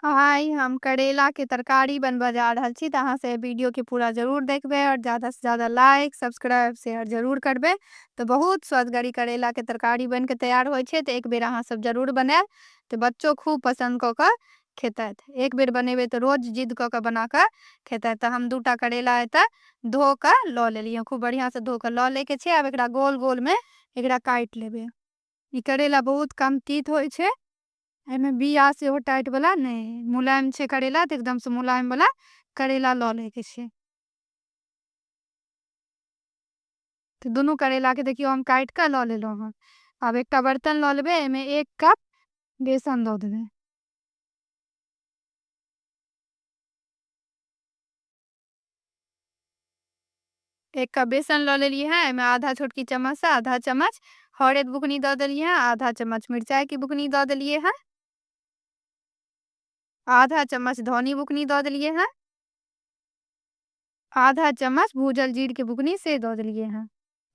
आइ हम करेला के तरकारी बनबऽ जा रहल छी तऽ अहाँ से वीडियो के पूरा जरूर देखबे और ज्यादा से ज्यादा लाइक सब्सक्राइब शेयर जरूर करबे तऽ बहुत स्वादगरी करेला के तरकारी बन के तैयार होय छै तऽ एक बेर अहाँ सब जरूर बनाएब तऽ बच्चो खूब पसंद कऽ कऽ खेतैथ एक बेर बनेबे तऽ रोज जिद कऽ कऽ बना कऽ खेतैथ तऽ हम दूटा करेला एतऽ धो कऽ लऽ लेलियै खूब बढ़िया से धो कऽ लऽ ले के छै आब एकरा गोल गोल में एकरा काट लेबे ई करेला बहुत कम तीत होय छै एहिमे बिया सेहो टाइट वाला नहि मुलायम छै करेला तऽ एकदमसँ मुलायम वाला करेला लऽ लैके छै तऽ दुनू करेलाके देखियौ हम काटि कऽ लऽ लेलहुँ हँ आब एकटा बर्तन लऽ लेबै एहिमे एक कप बेसन दऽ देबै एक कप बेसन लऽ लेलियै हँ एहिमे आधा छोटकी चम्मचसँ आधा चम्मच हरैद बुकनी दऽ देलियै हँ आधा चम्मच मिरचाइके बुकनी दऽ देलियै हँ आधा चम्मच धनी बुकनी दऽ देलियै हँ आधा चम्मच भूजल जीरके बुकनी से दऽ देलियै हँ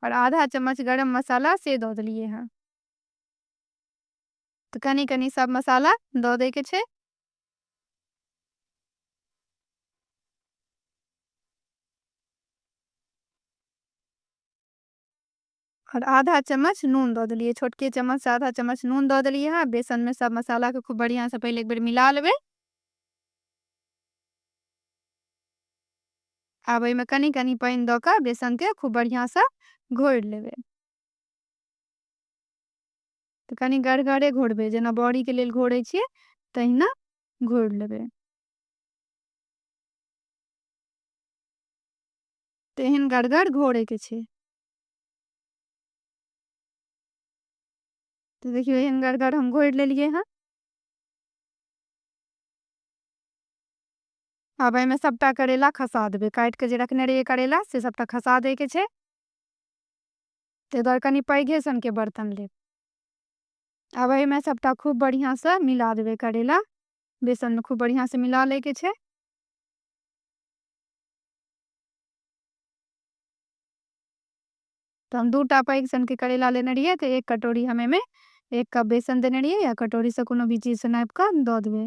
आओर आधा चम्मच गरम मसाला से दऽ देलियै हँ तो कनी कनी सब मसाला दो दे के छे और आधा चम्मच नून दो दिलिए छोटके चम्मच आधा चम्मच नून दो दिलिए हाँ बेसन में सब मसाला को खूब बढ़िया से पहले एक बार मिला लेवे अब में कनी कनी पानी दो का बेसन के खूब बढ़िया से घोर लेवे तऽ कनि गढ़गरे घोरबै जेना बड़ीके लेल घोरै छियै तहिना घोरि लेबै तऽ एहन गढ़गर घोरैके छै तऽ देखियौ एहन गढ़गर हम घोरि लेलियै हँ आब एहिमे सभटा करैला खसा देबै काटि कऽ जे रखने रहियै करैला से सभटा खसा दैके छै ताहि दुआरे कनि पैघे सनके बर्तन लेब आब एहिमे सभटा खूब बढ़िआँसँ मिला देबै करैला बेसनमे खूब बढ़िआँसँ मिला लैके छै तऽ हम दूटा पैघ सनके करैला लेने रहियै तऽ एक कटोरी हम एहिमे एक कप बेसन देने रहियै या कटोरीसँ कोनो भी चीजसँ नापि कऽ दऽ देबै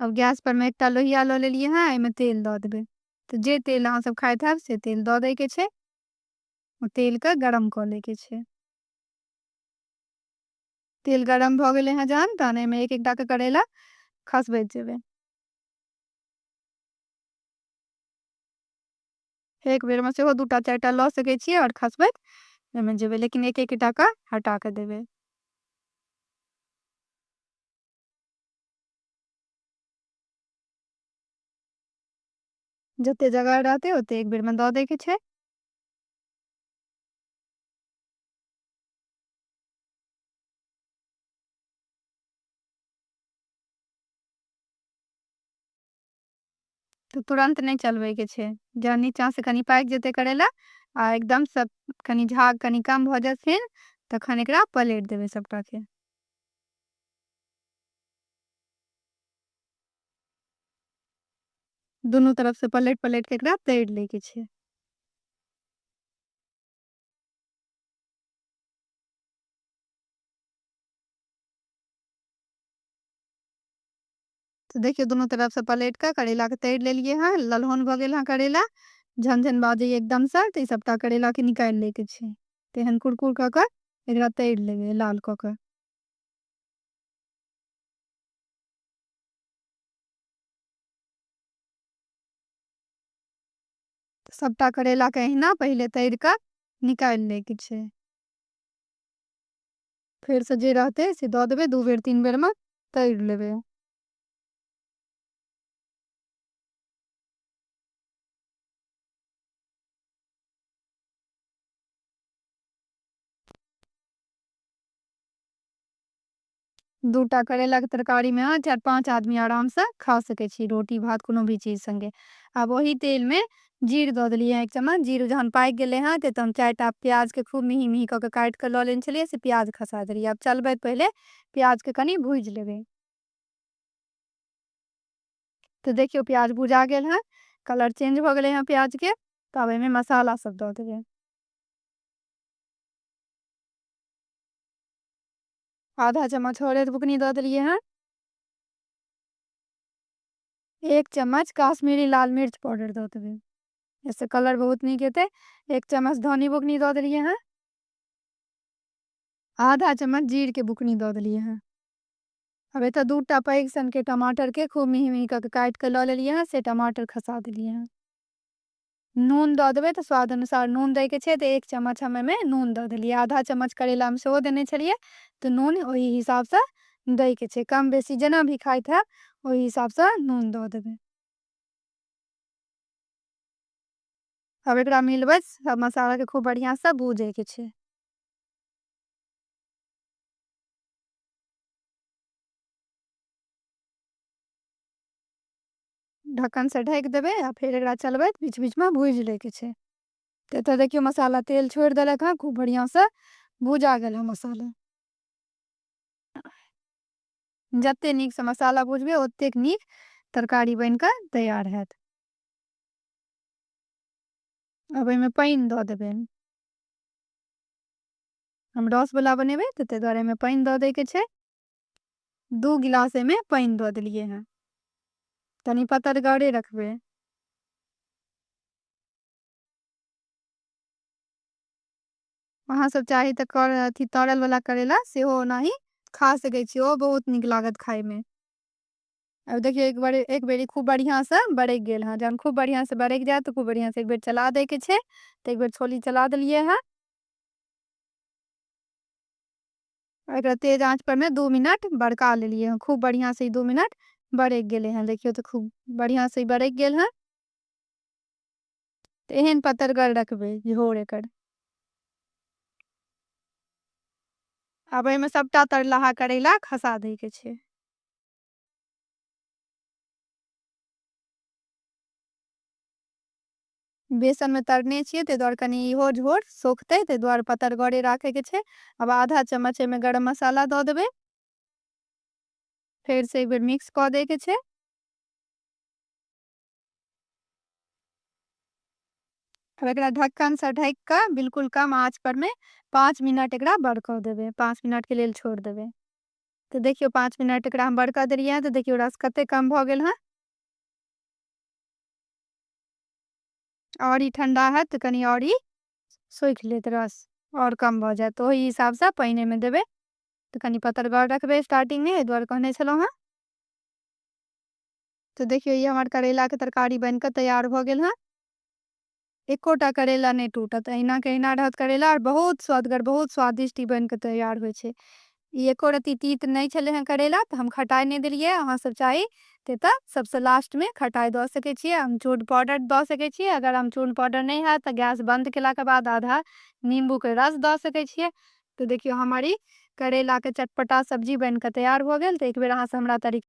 अब गैस पर में एकटा लोहिया ल लेलिए हैं एहिमे तेल द देबे तो जे तेल अहाँ सब खाइत है से तेल द दे के छे तेल के गरम क ले के छे तेल गरम भ गए हैं जहन तहन एहिमे एक एकटा के करेला खसबैत जेबे एक बेर में से दूटा चारिटा ल सके छे और खसबैत एहिमे जेबे लेकिन एक एकटा के हटा के देबे जते जगह रहते ओते एक बेर में दऽ दे के छै तऽ तुरन्त नहि चलबैके छै जँ नीचाँसँ कनि पाकि जेतै करैला आ एकदमसँ कनि झाग कनि कम भऽ जेथिन तखन एकरा पलटि देबै सभटाके दुनू तरफसँ पलटि पलटि कऽ एकरा तरि लैके छै तऽ देखियौ दुनू तरफ से पलट कऽ करैला के तैर लेलियै हेँ ललहोन भऽ गेल हेँ करैला झन झन बाजैए एकदमसँ तऽ ई सभटा करैलाके निकालि लैके छै तऽ एहन कुरकुर कऽ कऽ एकरा तैर लेबै लाल कऽ कऽ सभटा करैलाके अहिना पहिले तैर कऽ निकालि लैके छै फेरसँ जे रहतै से दऽ देबै दू बेर तीन बेरमे तरि लेबै दूटा करैलाके तरकारीमे अहाँ चारि पाँच आदमी आरामसँ खा सकै छी रोटी भात कोनो भी चीज सङ्गे आब ओही तेलमे जीर दऽ देलियै हँ एक चम्मच जीर जहन पाकि गेलै हँ तऽ हम चारि टा प्याजके खूब मिही मिही कऽ कऽ काटि कऽ लऽ लेने छलियै से प्याज खसा देलियै आब चलबैत पहिले प्याजके कनि भूजि लेबै तऽ देखियौ प्याज भुजा गेल हँ कलर चेंज भऽ गेलै हँ प्याजके तऽ आब एहिमे मसाला सब दऽ देबै आधा चम्मच हरैद बुकनी दऽ देलियै हँ एक चम्मच काश्मीरी लाल मिर्च पाउडर दऽ देबै एहिसँ कलर बहुत नीक हेतै एक चम्मच धनी बुकनी दऽ देलियै हँ आधा चम्मच जीरके बुकनी दऽ देलियै हँ अब एतऽ दू टा पैघ सनके टमाटरके खूब मिही मिही कऽ के काटि कऽ लऽ लेलियै हँ से टमाटर खसा देलियै हँ नून दऽ देबै तऽ स्वाद अनुसार नून दैके छै तऽ एक चम्मच हम एहिमे नून दऽ देलियै आधा चम्मच करैलामे सेहो देने छलियै तऽ नून ओहि हिसाबसँ दैके छै कम बेसी जेना भी खाइत हैब ओहि हिसाबसँ नून दऽ देबै अब एकरा मिलबै सब मसालाके खूब बढ़िआँसँ भूजैके छै ढक्कन से ढकि देबै आ फेर एकरा चलबैत बीच बीचमे भूजि लैके छै तऽ एतऽ देखियौ मसाला तेल छोड़ि देलक हँ खूब बढ़िआँसँ भूजा गेल हँ मसाला जतेक नीकसँ मसाला भुजबै ओतेक नीक तरकारी बनि कऽ तैयार हैत आब एहिमे पानि दऽ देबै हम रसवला बनेबै तऽ ताहि दुआरे एहिमे पानि दऽ दैके छै दू गिलास एहिमे पानि दऽ देलियै हेँ तनि पतरगरे रखबै अहाँ सब चाही तऽ कर अथी तरल वाला करेला सेहो ओनाही खा सकै छी ओ बहुत नीक लागत खायमे अब देखियौ एक बार एक बेर खूब बढ़िया से बरकि गेल हँ जहन खूब बढ़िया से बरकि जायत तऽ खूब बढ़िया से एक बेर चला दै के छै तऽ एक बेर छोली चला देलियै हँ एकरा तेज आँच पर में दू मिनट बड़का लेलिए हैं खूब बढ़िया से दू मिनट बड़क गए हैं देखियो तो खूब बढ़िया से बड़क गए हैं तो एहन पतरगर रखबे झोर एक अब एहिमे सबटा तरलाहा करैला खसा दे के छे बेसनमे तरने छियै ताहि दुआरे कनि इहो झोर सोखतै ताहि दुआरे पतरगरे राखैके छै आब आधा चम्मच एहिमे गरम मसाला दऽ देबै फेरसँ एक बेर मिक्स कऽ दैके छै अब एक ढक्कन से ढक के बिल्कुल कम आँच पर में पाँच मिनट एक बड़क देवे पाँच मिनट के लिए छोड़ देवे तो देखियो पाँच मिनट एक हम बड़क दिलिए तो देखियो रस कत कम भगल हाँ आओर ई ठण्डा हैत तऽ कनि आओर ई सोखि लेत रस आओर कम भऽ जायत ओहि हिसाबसँ पानि एहिमे देबै तऽ कनि पतरगर रखबै स्टार्टिंगमे एहि दुआरे कहने छलहुँ हेँ तऽ देखियौ ई हमर करैलाके तरकारी बनि कऽ तैयार भऽ गेल हेँ एकोटा करैला नहि टूटत अहिना के अहिना रहत करैला आओर बहुत स्वदगर बहुत स्वादिष्ट ई बनि कऽ तैयार होइ छै ई एको रत्ती तीत नहि छलै हँ करैला तऽ हम खटाइ नहि देलियै अहाँसभ चाही ते तऽ सभसँ लास्टमे खटाइ दऽ सकै छियै अमचूर पाउडर दऽ सकै छियै अगर अमचूर पाउडर नहि हैत तऽ गैस बन्द केलाके बाद आधा नीम्बूके रस दऽ सकै छियै तऽ देखियौ हमर ई करैलाके चटपटा सब्जी बनि कऽ तैयार भऽ गेल तऽ एक बेर अहाँसँ हमरा तरीका